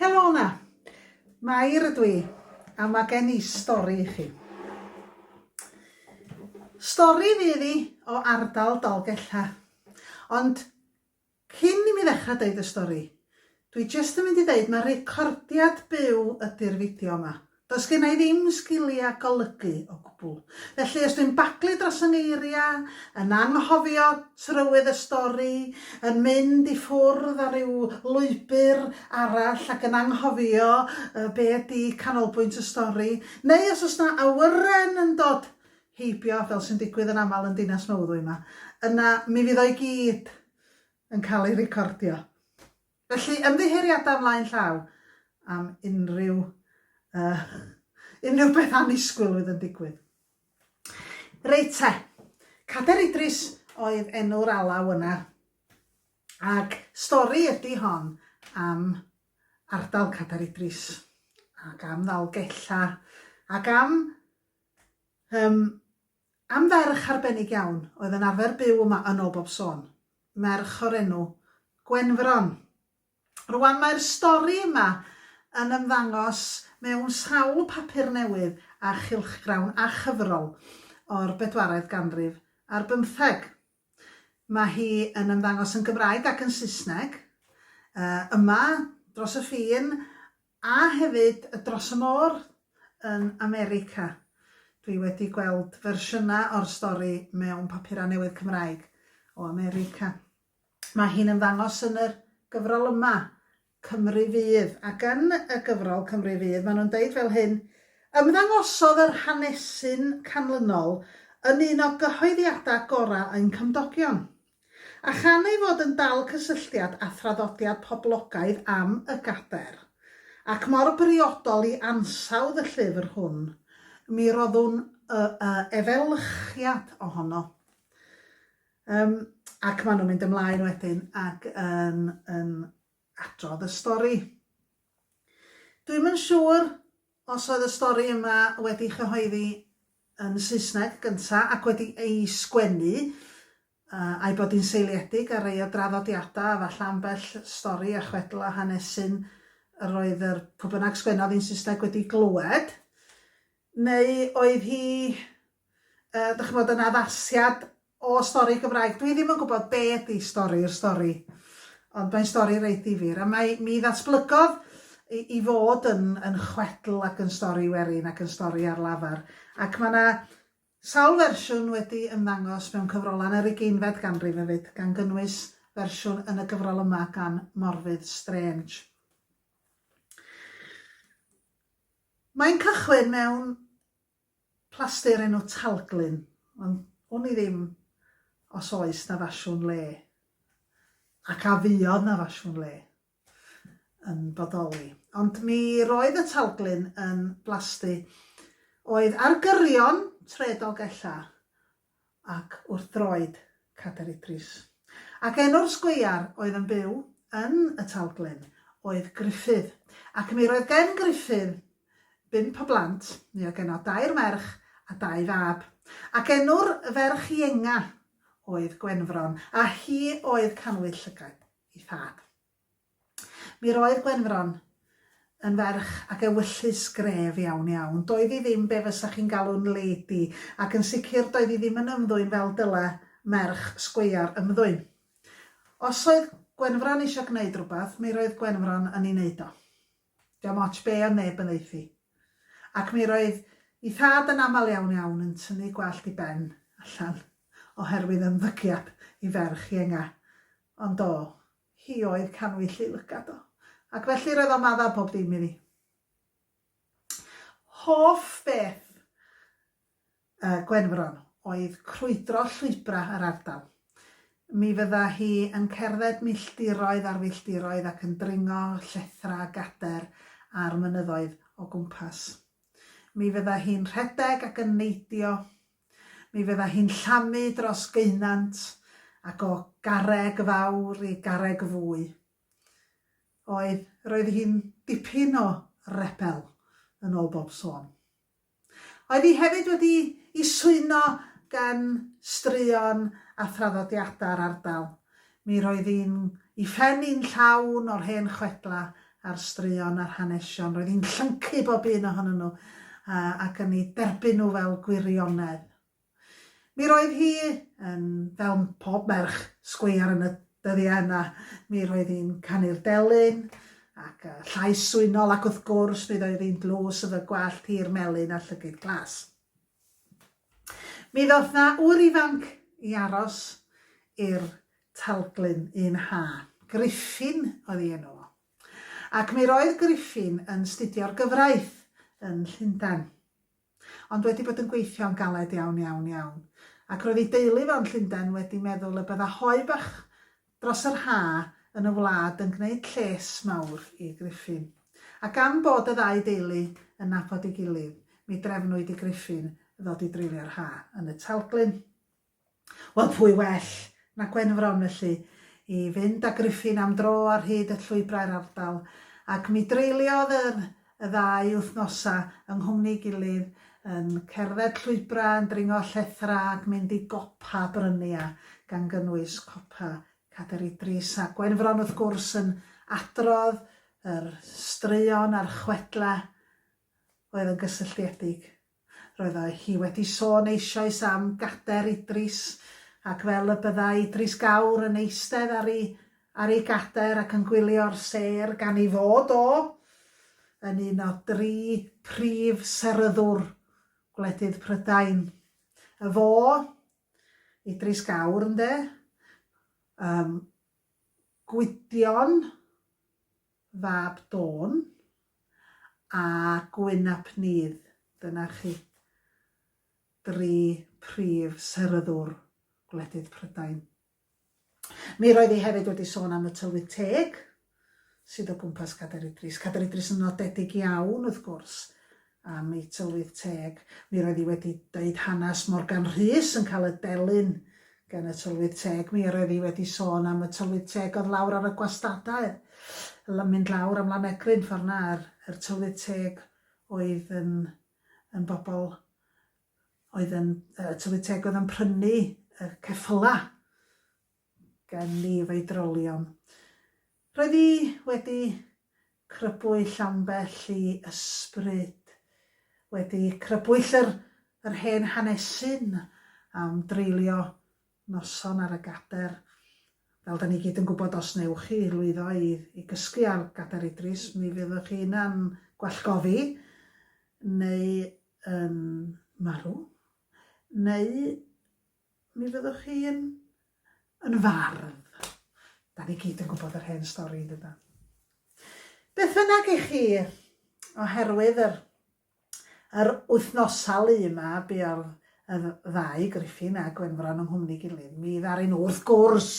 Helo yna! Mair ydw i, a mae gen i stori i chi. Stori fydd i o ardal Dolgella. Ond cyn i mi ddechrau dweud y stori, dwi jyst yn mynd i ddeud mae recordiad byw ydy'r fideo yma. Does genna i ddim sgiliau golygu o gwbl, felly os dwi'n baglu dros fy ngeiriau, yn anghofio trywydd y stori, yn mynd i ffwrdd ar ryw lwybr arall ac yn anghofio be ydy canolbwynt y stori, neu os oes 'na awyren yn dod heibio, fel sy'n digwydd yn aml yn Dinas Mawddwy 'ma, yna mi fydd o i gyd yn cael ei recordio. Felly, ymddiheuriadau ymlaen llaw am unrhyw yy unrhyw beth annisgwyl oedd yn digwydd. Reit te, Cader Idris oedd enw'r alaw yna, ac stori ydy hon am ardal Cader Idris, ac am Ddalgella, ac am um, Am ferch arbennig iawn oedd yn arfer byw yma yn ol bob sôn. Merch o'r enw Gwenfron. Rwan mae'r stori yma yn ymddangos mewn sawl papur newydd a chylchgrawn a chyfrol o'r bedwaredd ganrif ar bymtheg. Mae hi yn ymddangos yn Gymraeg ac yn Saesneg. Yma, dros y ffin, A hefyd dros y môr yn America. Dwi wedi gweld fersiynau o'r stori mewn papurau newydd Cymraeg o America. Mae hi'n ymddangos yn yr gyfrol yma, Cymru Fydd, ac yn y gyfrol Cymru Fydd maen nhw'n deud fel hyn, Ymddangosodd yr hanesyn canlynol yn un o gyhoeddiadau gorau ein cymdogion. A chan ei fod yn dal cysylltiad â thraddodiad poblogaidd am y gadair, ac mor briodol i ansawdd y llyfr hwn, mi roddwn y y efelychiad ohono. Yym, ac maen nhw'n mynd ymlaen wedyn ac yn yn adrodd y stori. Dwi'm yn siŵr Os oedd y stori yma wedi'i chyhoeddi yn Saesneg gynta ac wedi ei sgwennu, a'i bod hi'n seiliedig ar rei o draddodiadau a falle ambell stori a chwedl a hanesyn yr oedd yr pw bynnag sgwennodd hi'n Saesneg wedi glywed, neu oedd hi yy dych ch'mod yn addasiad o stori Gymraeg. Dwi ddim yn gwybod be' ydi stori yr stori ond mae'n stori reit ddifyr a mae mi ddatblygodd i i fod yn yn chwedl ac yn stori werin ac yn stori ar lafar ac mae 'na sawl fersiwn wedi ymddangos mewn cyfrolau yn yr ugeinfed ganrif hefyd gan gynnwys fersiwn yn y gyfrol yma gan Morfydd Strange. Mae'n cychwyn mewn Plaster enw Talglyn ond wn i ddim os oes 'na fasiwn le ac a fuodd 'na fasiwn le yn bodoli. Ond mi roedd y Talglyn yn blasty oedd ar gyrion tredog ella ac wrth droed Cader Idris. Ac enw'r sgweiar oedd yn byw yn y Talglyn oedd Gruffydd, ac mi roedd gen Gruffydd bump o blant, mi oedd genno dair merch a dau fab, ac enw'r ferch ienga oedd Gwenfron, a hi oedd canwyll llygaid ei thad. Mi roedd Gwenfron yn ferch ac ewyllys gref iawn iawn. Doedd hi ddim be fysa chi'n galw'n lady, ac yn sicr doedd hi ddim yn ymddwyn fel dyle merch sgweiar ymddwyn. Os oedd Gwenfron eisiau gwneud rhywbeth, mi roedd Gwenfron yn ei wneud o. Diom ots be oedd neb yn ddeuthi. Ac mi roedd ei thad yn aml iawn iawn yn tynnu gwallt ei ben allan oherwydd ymddygiad ei ferch ienga. Ond do, hi oedd canwyll-u lygad o, ac felly roedd o'n maddau pob dim i fi. Hoff beth y Gwenfron oedd crwydro llwybrau yr ardal. Mi fydda hi yn cerdded milltiroedd ar filltiroedd ac yn dringo llethrau a gader ar mynyddoedd o gwmpas. Mi fydda hi'n rhedeg ac yn neidio Mi fydda hi'n llamu dros geunant, ac o garreg fawr i garreg fwy. Oedd, roedd hi'n dipyn o rebel, yn ôl bob sôn. Oedd hi hefyd wedi i swyno gan straeon a thraddodiadau'r ardal. Mi roedd un i phen i'n llawn o'r hen chwedlau a'r straeon a'r hanesion. Roedd i'n llyncu bob un ohonyn nhw ac yn eu derbyn nhw fel gwirionedd. Mi roedd hi yn, fel pob merch sgweiar yn y dyddiau yna, mi roedd hi'n canu'r delyn ac y llais swynol ac wrth gwrs mi ddoedd hi'n dlws y fy gwallt hir melyn a llygid glas. Mi ddoth 'na ŵr ifanc i aros i'r talglyn un ha. Griffin oedd ei enw o. Ac mi roedd Griffin yn 'studio'r gyfraith yn Llundain. Ond wedi bod yn gweithio'n galed iawn, iawn, iawn. Ac roedd ei deulu fo yn Llundain wedi meddwl y bydda hoe bach dros yr ha yn y wlad yn gwneud lles mawr i Griffin. A gan bod y ddau deulu yn nabod ei gilydd, mi drefnwyd i Griffin ddod i dreulio'r ha yn y Talglyn. Wel, pwy well na Gwenfron, felly, i fynd â Griffin am dro ar hyd y llwybrau'r ardal, ac mi dreuliodd yr y ddau wythnosau yng nghwmni'i gilydd, yn cerdded llwybrau, yn dringo llethrau ac mynd i gopa brynia, gan gynnwys copa Cader Idris, a Gwenfron wrth gwrs yn adrodd yr straeon a'r chwedlau oedd yn gysylltiedig Roeddai hi wedi sôn eisoes am gader Idris, ac fel y byddai Idris Gawr yn eistedd ar ei ar ei gader ac yn gwylio'r sêr gan ei fod o yn un o dri phrif seryddwr gwledydd Prydain. Y fo, Idris Gawr, ynde? Yym, Gwydion? fab Dawn a Gwyn ap Nudd, dyna chi dri prif seryddwr gwledydd Prydain. Mi roedd hi hefyd wedi sôn am y tylwyth teg sydd o gwmpas Cader Idris. Cader Idris yn nodedig iawn, wrth gwrs, am ei tylwyth teg. Mi roedd hi wedi deud hanes Morgan Rhys yn cael y delyn gan y tylwyth teg. Mi roedd hi wedi sôn am y tylwyth teg oedd lawr ar y gwastadau, yn mynd lawr am Lanegryn ffordd na, yr, yr tylwyth teg oedd yn, yn bobl oedd yn, y tylwyth teg oedd yn prynu y ceffylau. gen ni efo'i drolion. Roedd hi wedi crybwyll ambell i ysbryd, wedi crybwyll yr yr hen hanesyn am dreulio noson ar y gader. Fel da ni gyd yn gwybod, os newch chi lwyddo i i gysgu ar gader Idris, mi fyddwch chi yna'n gwallgofi, neu yn marw, neu Mi fyddwch chi'n yn fardd. Da ni gyd yn gwybod yr hen stori, dyda. Beth yna i chi, oherwydd yr, yr wythnosau lu yma, buodd y ddau, Griffin a Gwenfron, yng nghwmni gilydd. Mi ddaru nhw, wrth gwrs,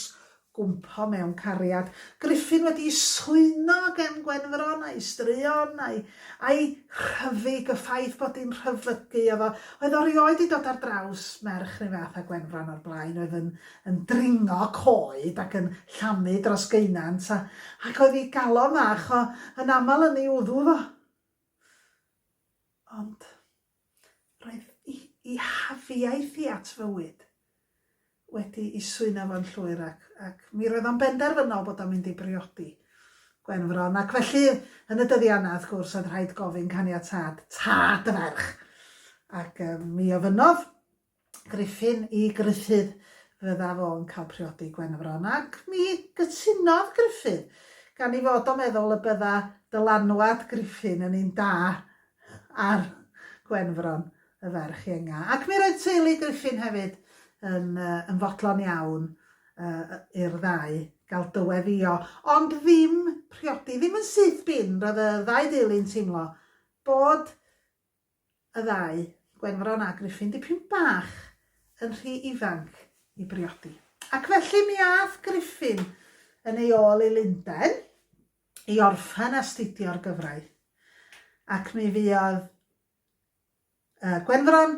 gwmpo mewn cariad, Gruffudd wedi swyno gen Gwenfron a'i straeon a'i a'i rhyfyg, y ffaith bod hi'n rhyfygu efo, oedd o rioed di dod ar draws merch run fath â Gwenfron o'r blaen, oedd yn yn dringo coed ac yn llamu dros geunant, a ac oedd i galon fach o yn aml yn ei wddw fo. Ond. Roedd i hafiaeth i at fywyd wedi i swyno fo'n llwyr ac ac mi roedd o'n benderfynol bod o'n mynd i briodi Gwenfron ac felly yn y dyddiau yna wrth gwrs oedd rhaid gofyn caniatâd tad y ferch ac mi ofynnodd Griffin i Gruffydd fydda fo'n cael priodi Gwenfron, ac mi gytunodd Gruffydd, gan i fod o meddwl y bydda dylanwad Griffin yn un da ar Gwenfron, y ferch ienga. Ac mi roedd teulu Griffin hefyd yn, uh, yn fodlon iawn uh, i'r ddau gael dyweddio, ond ddim priodi, ddim yn syth bin, roedd y ddau deulu'n teimlo bod y ddau, Gwenfron a Gruffy'n dipyn bach yn rhy ifanc i briodi. Ac felly mi ath Gruffyn yn ei ôl i Lundain i orffen astudio'r gyfraith. Ac mi fuodd Gwenfron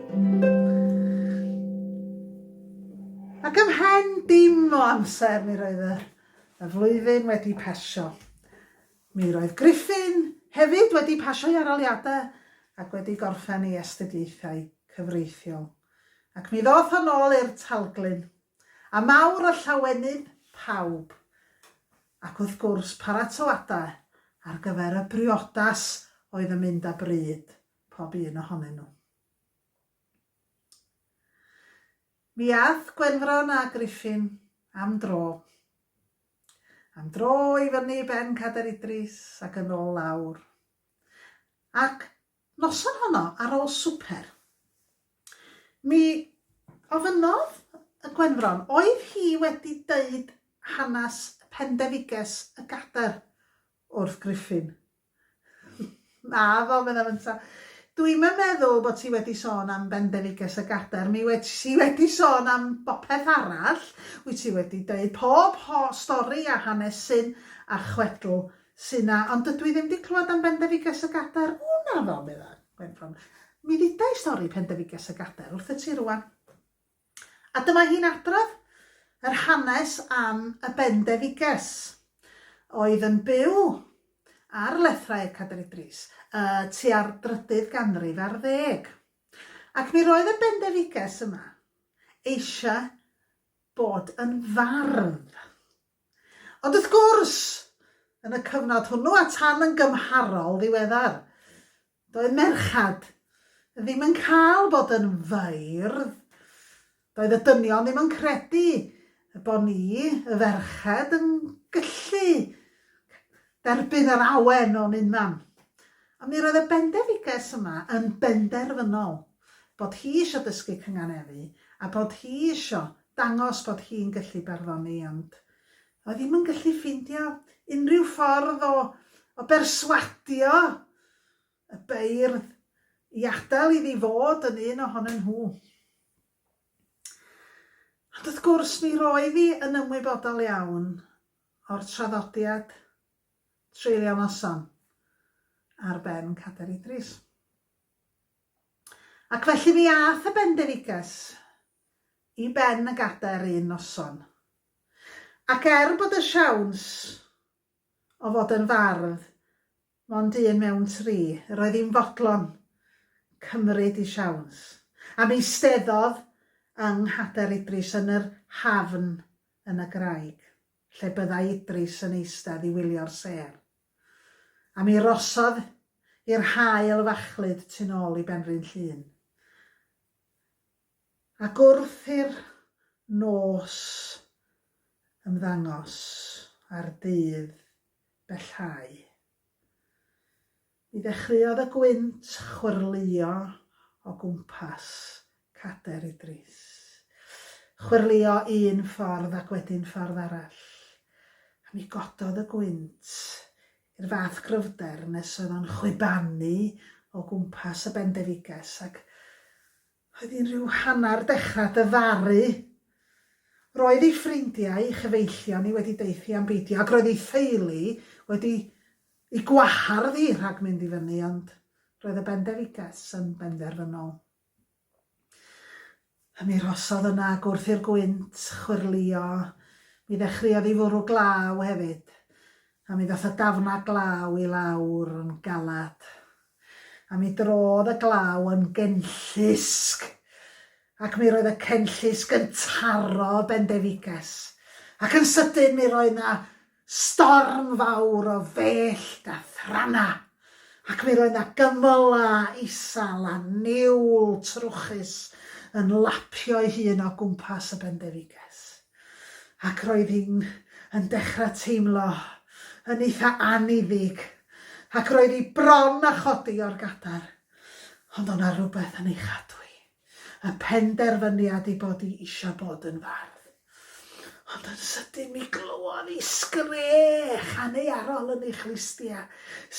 Ac ymhen dim o amser mi roedd y y flwyddyn wedi pasio. Mi roedd Griffin hefyd wedi pasio'i aroliadau ac wedi gorffen ei astudiaethau cyfreithiol. Ac mi ddoth o nôl i'r Talglyn, a mawr o llawenydd pawb, ac wrth gwrs paratoadau ar gyfer y briodas oedd yn mynd â bryd. pob un ohonyn nhw. Mi ath Gwenfron a Griffin am dro. Am dro i fyny ben Cader Idris ac yn ôl lawr. Ac noson honno, ar ôl swper, mi ofynnodd y Gwenfron, oedd hi wedi deud hanes Pendefiges y Gader wrth Griffin. Naddo, meddai Mynta. Dw i'm yn meddwl bod ti wedi sôn am Bendefiges a Gader, mi wyt ti wedi sôn am bopeth arall, wyt ti wedi dweud pob ho stori a hanes syn a chwedl sy 'na, ond dydw i ddim 'di clywed am Bendefiges a Gader. O, naddo, meddai Gwenffron. Mi ddida i stori Pendefiges a Gader wrthyt ti rŵan. A dyma hi'n adrodd yr hanes am y bendefiges oedd yn byw ar lethrau'r Cadair Idris y tua'r drydydd ganrif ar ddeg. Ac mi roedd y bendefiges yma eisiau bod yn fardd. Ond wrth gwrs, yn y cyfnod hwnnw a tan yn gymharol ddiweddar, Doedd merched ddim yn cael bod yn feirdd. Doedd y dynion ddim yn credu y bo ni, y ferched, yn gyllu derbyn yr awen o'n unan. Ond mi roedd y bendefiges yma yn benderfynol bod hi isio dysgu cynganeddu a bod hi isio dangos bod hi'n gyllu barddoni ond A ddim yn gallu ffeindio unrhyw ffordd o o berswadio y beirdd i adael iddi fod yn un ohonyn nhw. Ond wrth gwrs mi roedd hi yn ymwybodol iawn o'r traddodiad treulio noson ar ben Cader Idris. Ac felly mi ath y bendefiges i ben y gadair un noson. Ac er bod y siawns o fod yn fardd mond un mewn tri, yr oedd hi'n fodlon cymryd ei siawns, am eisteddodd yng nghader Idris yn yr hafn yn y graig, lle byddai Idris yn eistedd i wylio'r sêr, a mi rosodd hi'r haul fachlud tu'n ôl i Benrhyn Llŷn. Ac wrth i'r nos ymddangos a'r dydd bellhau, mi ddechreuodd y gwynt chwyrlïo o gwmpas Cader Idris. Chwyrlïo un ffordd ac wedyn ffordd arall, a mi gododd y gwynt i'r fath gryfder nes oedd o'n chwibanu o gwmpas y Bendefiges ac Oedd hi'n rhyw hanner dechra dyfaru. Roedd ei ffrindiau, ei chyfeillion hi wedi deuthi am beidio ac roedd ei theulu wedi ei gwahardd hi rhag mynd i fyny ond roedd y bendefiges yn benderfynol. Am mi rosodd yna ac wrth i'r gwynt chwyrlio mi ddechreuodd hi fwrw glaw hefyd a mi ddoth y dafna glaw i lawr yn galad. A mi drodd y glaw yn genllysg, ac mi roedd y cenllysg yn taro Bendefiges, ac yn sydyn mi roedd na storm fawr o fellt a thrana, ac mi roedd na gymyla isal a niwl trwchus yn lapio'i hun o gwmpas y Bendefiges. ac roedd hi'n yn dechrau teimlo yn eitha anniddig ac roedd hi bron a chodi o'r gadair, ond o' 'na rywbeth yn ei chadw hi, y penderfyniad i bod hi isio bod yn fardd. Ond yn sydyn mi glywodd hi sgrech aneuarol yn ei chlustia,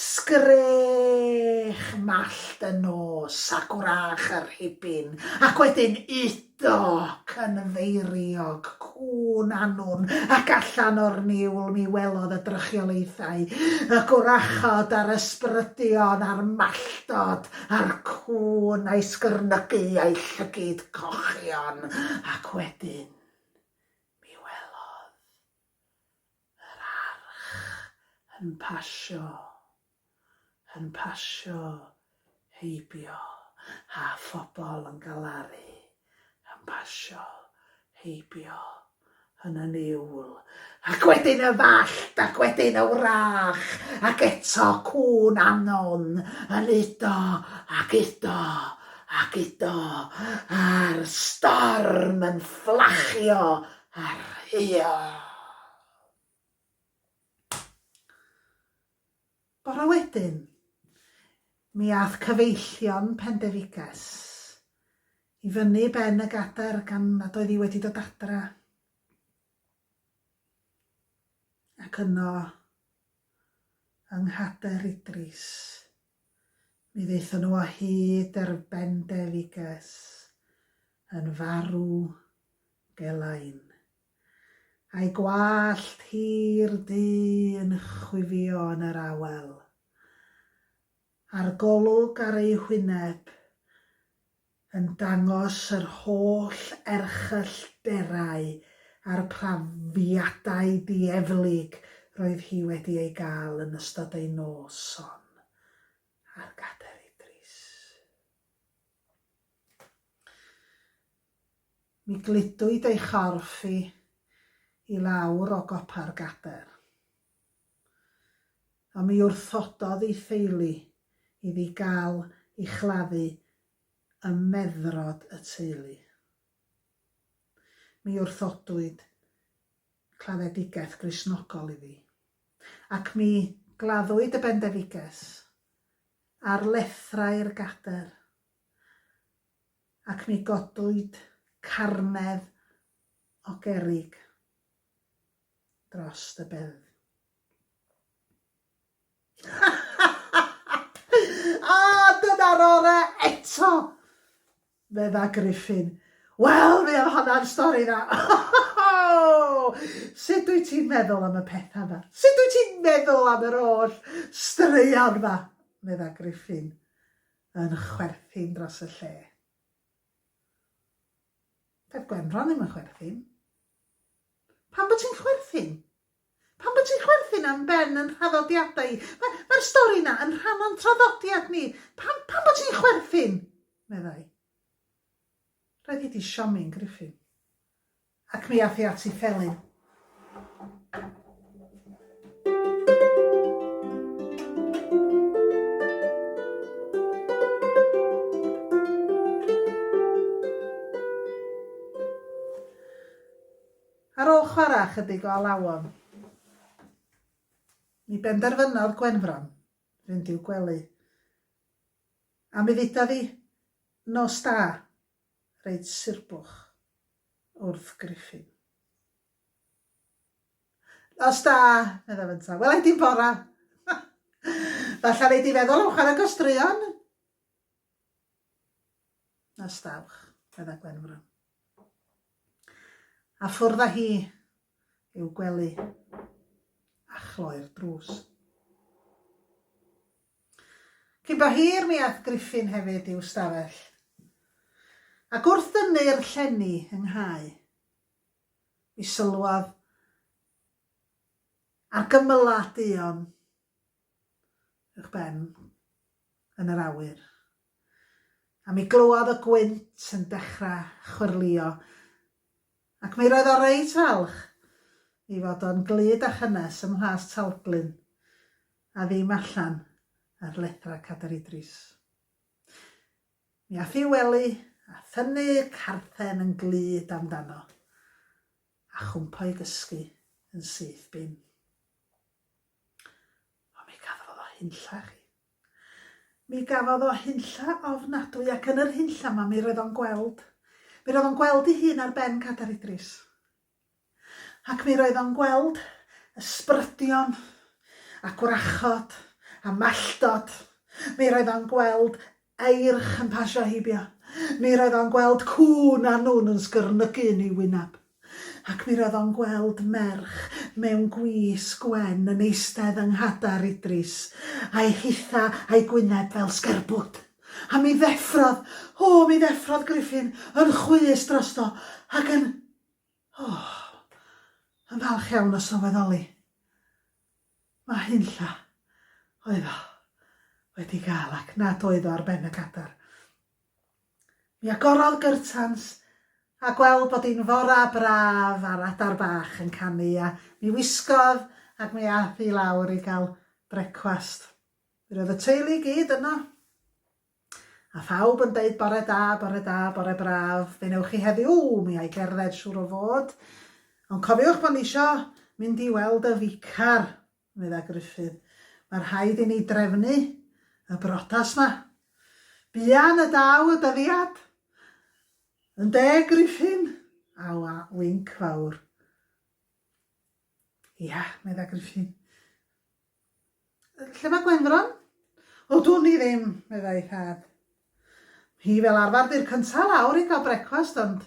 sgrech mallt y nos a gwrach y rhibin, ac wedyn 'u Doc yn feiriog, cŵn annwn, ac allan o'r niwl mi welodd y drychiolaethau, y gwrachod a'r ysbrydion a'r malltod a'r cŵn a'i sgyrnygu a'i llygid cochion, ac wedyn mi welodd Yr arch yn pasio, yn pasio heibio, a phobl yn galaru, yn pasio heibio yn y niwl. Ac wedyn y fallt, ac wedyn y wrach, ac eto cŵn anon yn udo ac udo ac udo, a'r storm yn fflachio Ar hyd. Bore wedyn, mi ath cyfeillion Pendefiges i fyny ben y gadair gan nad oedd hi wedi dod adra. Ac yno, yng Nghader Idris, mi ddaethon nhw o hyd er Bendefiges yn farw Gelain. A'i gwallt hir du yn chwifio yn yr awel. A'r golwg ar ei hwyneb yn dangos yr holl erchyllderau a'r prafiadau dieflig roedd hi wedi ei gael yn ystod ei noson ar gadair idris. Mi gludwyd ei chorff i i lawr o gopa'r gadair. Ond mi wrthododd ei theulu iddi gael ei chladdu ym meddrod y teulu. Mi wrthodwyd claddedigaeth Gristnogol iddi, ac mi gladdwyd y bendefiges ar lethrau'r gadair. ac ni godwyd carnedd o gerrig dros y bedd. A dyna'r ore eto! Fedda Griffin. Wel, mi oedd honna'n stori dda. Sut dwi ti'n meddwl am y pethau yma? Sut dwi ti'n meddwl am yr oll straeon yma? Fedda Griffin. yn chwerthin dros y lle. Dedd Gwenfron ddim yn chwerthin. Pam bod ti'n chwerthin? Pam bod ti'n chwerthin am ben yn rhaddodiadau? Mae'r ma, ma stori na yn rhan o'n traddodiad ni. Pam, pam bod ti'n chwerthin? meddai. Roedd hi di siomi'n griffin. Ac mi ath hi at ei phelin. Ar ôl chwarae ychydig o alawon, mi benderfynodd Gwenfron fynd i'w gwely. A mi ddeudodd hi, Nos da, reit surbwch wrth Griffin. Nos da, meddai fynta. Welai di'n bora. Falle rei di feddwl am chwarae gostruon. Nos dawch, meddai Gwenfro. A ffwrdd â hi i'w gwely a chloi'r drws. Cyn bo hir mi ath Griffin hefyd i'w stafell, ac wrth dynnu'r llenni yng nghau, mi sylwodd ar gymylau duon ych ben yn yr awyr, a mi glywodd y gwynt yn dechrau chwyrlio Ac mi roedd o reit falch ei fod o'n glyd a chynnes ym mhlas Talglyn, a ddim allan ar lethrau Cadair Idris. Mi ath i wely a thynnu carthen yn glyd amdano, a chwmpo i gysgu yn syth bin. Ond mi gafodd o hunllach i. Mi gafodd o hunlla ofnadwy ac yn yr hunlla 'ma mi roedd o'n gweld, mi roedd o'n gweld ei hun ar ben Cadair Idris. Ac mi roedd o'n gweld ysbrydion a gwrachod a malldod. Mi roedd o'n gweld eirch yn pasio heibio. Mi roedd o'n gweld cŵn a nwn yn sgyrnygu yn ei wyneb. Ac mi roedd o'n gweld merch mewn gwis gwen yn eistedd yng nghadar Idris, a'i hithau a'i gwyneb fel sgerbwd. A mi ddeffrodd, o, mi ddeffrodd Griffin yn chwys drosto, ac yn, o, yn falch iawn o sylweddoli mai hunlla oedd o wedi gael ac nad oedd o ar ben y cadar. Mi agorodd gyrtans, a gweld bod hi'n fora braf a'r adar bach yn canu, a mi wisgodd ac mi ath hi lawr i gael brecwast. Mi roedd y teulu i gyd yno, a phawb yn deud bore da, bore da, bore braf, be newch chi heddiw? Ww, mi ai gerdded siŵr o fod, ond cofiwch bod ni isio mynd i weld y ficar. Medda Gruffydd, Mae rhaid i ni drefnu y brotas 'ma. Buan y daw y dyddiad. Yn deg Gruffyn! a winc fawr. Ia, medda Gruffyn. Lle mae Gwenfron? O, dwn i ddim, meddai thad. Hi fel arfer di'r cyntaf lawr i gael brecwast, ond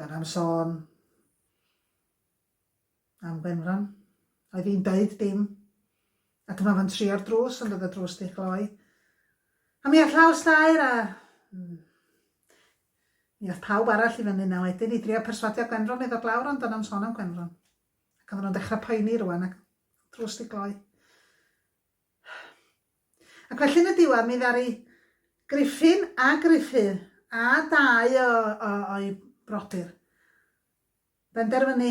Dan am sôn am Gwenfran. Oedd hi'n deud dim. A dyma fo'n trio'r drws ond oedd y drws di chloi. A mi all laws dair a... Hmm. Mi all pawb arall i fyny na wedyn i drio perswadio Gwenfran i ddod lawr ond dan am sôn am Gwenfran. Ac oedden nhw'n dechrau poeni rwan ac drws di gloi. Ac felly yn y diwedd mi ddaru Griffin a Gruffydd a dau o, o, o'i brodyr benderfynu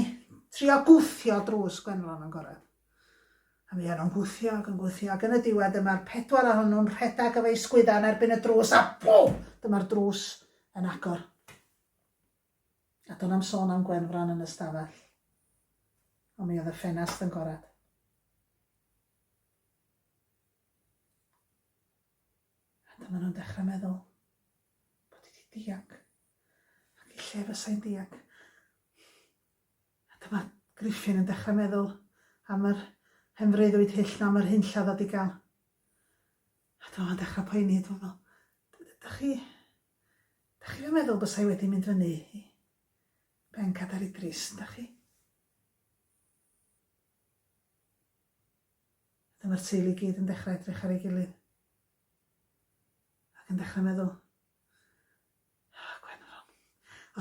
trio gwthio drws Gwenlon yn gorau. A mi o'n nhw'n gwthio ac yn gwthio ac yn y diwedd dyma'r pedwar ohonyn nhw'n rhedeg efo'u sgwydda yn erbyn y drws a bw! Dyma'r drws yn agor. A do'n am sôn am Gwenfran yn y stafell. Ond mi oedd y ffenast yn gorad. A dyma nhw'n dechrau meddwl bod wedi dianc ac i lle fysai'n dianc. A dyma Griffin yn dechrau meddwl am yr hen freuddwyd hyll na am yr hunllad a digal. A dyma fo'n dechrau poeni, dwi'n meddwl, da chi, da chi fe meddwl bysau wedi mynd fyny i ben Cadar Idris, da chi? Wedyn mae'r teulu i gyd yn dechrau edrych ar ei gilydd ac yn dechrau meddwl, oh, Gwenfron.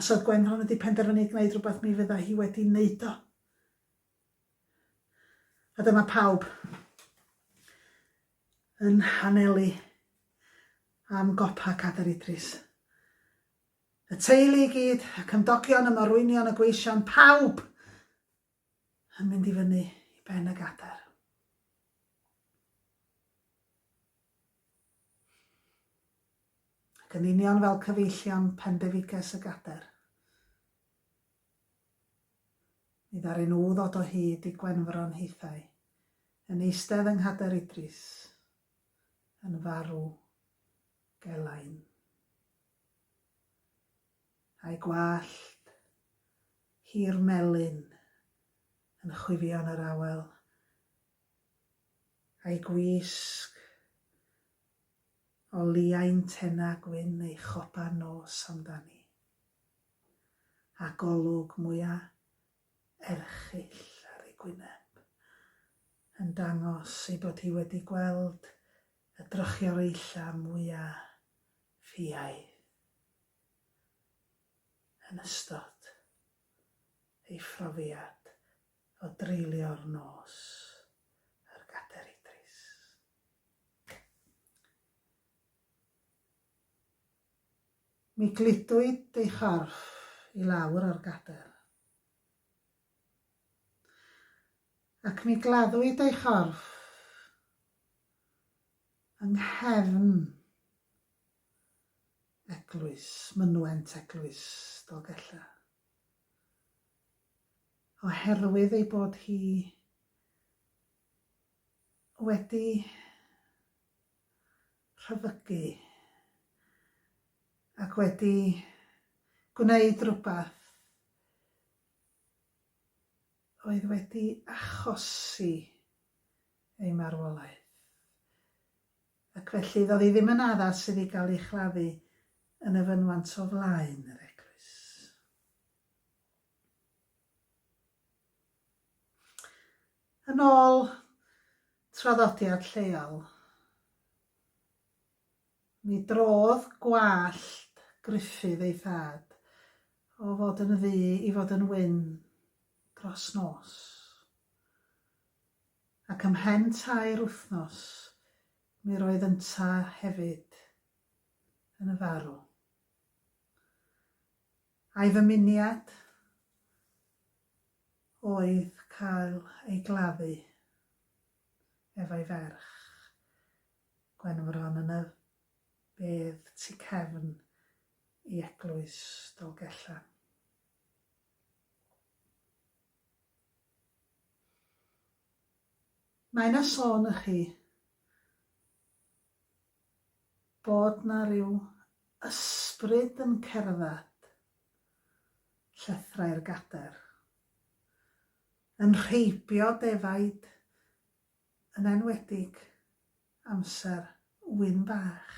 Os oedd Gwenfron wedi penderfynu i gwneud rhywbeth mi fydda hi wedi wneud o. A dyma pawb yn hanelu am gopa Cadar Idris. Y teulu i gyd, y cymdogion, y morwynion, y gweision, pawb yn mynd i fyny i ben y gadair. Ac yn union fel cyfeillion pendefiges y gadair, mi ddaru nhw ddod o hyd i Gwenfron hithau, yn eistedd yng Nghader Idris, yn farw gelain. a'i gwallt hir melyn yn chwifio yn yr awel, a'i gwisg o liain tenna gwyn ei chopa nos amdani, a golwg mwya erchyll ar ei gwyneb yn dangos ei bod hi wedi gweld y drychioreulla mwya ffiaidd. yn ystod ei phrofiad o dreulio'r nos ar Gader Idris. Mi gludwyd ei chorff i lawr ar gader, ac mi gladdwyd ei chorff yng nghefn Eglwys, mynwent Eglwys Dolgellau. Oherwydd ei bod hi wedi rhyfygu ac wedi gwneud rhywbeth oedd wedi achosi ei marwolaeth. Ac felly, doedd hi ddim yn addas iddi gael ei chladdu yn y fynwant o flaen yr eglwys. Yn ôl traddodiad lleol, mi drodd gwallt Gruffydd ei thad o fod yn ddu i fod yn wyn dros nos. Ac ymhen tair wythnos, mi roedd ynta hefyd yn y farw. A'i ddymuniad oedd cael ei gladdu efo'i ferch, Gwenfron, yn y bedd tu cefn i Eglwys Dolgellan. Mae 'na sôn y chi bod 'na ryw ysbryd yn cerdded llethrau'r gader, yn rheibio defaid yn enwedig amser ŵyn bach.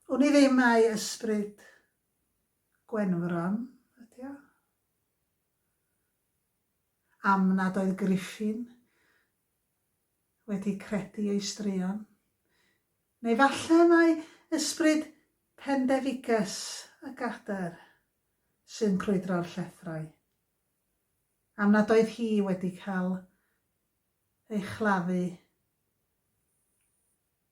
Wn i ddim mai ysbryd Gwenfron ydy o? Am nad oedd Griffin wedi credu ei straeon? Neu falle mai ysbryd pendefigus y Gader sy'n crwydro'r llethrau? Am nad oedd hi wedi cael ei chladdu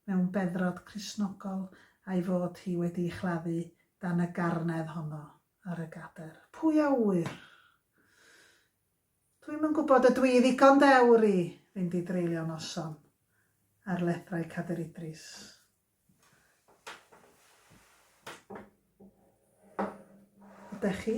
mewn beddrod Cristnogol a'i fod hi wedi'i chladdu dan y garnedd honno ar y gadair. Pwy a ŵyr? Dwi'm yn gwybod, ydw i ddigon dewr i fynd i dreulio noson ar lethrau Cader Idris? Ydych chi?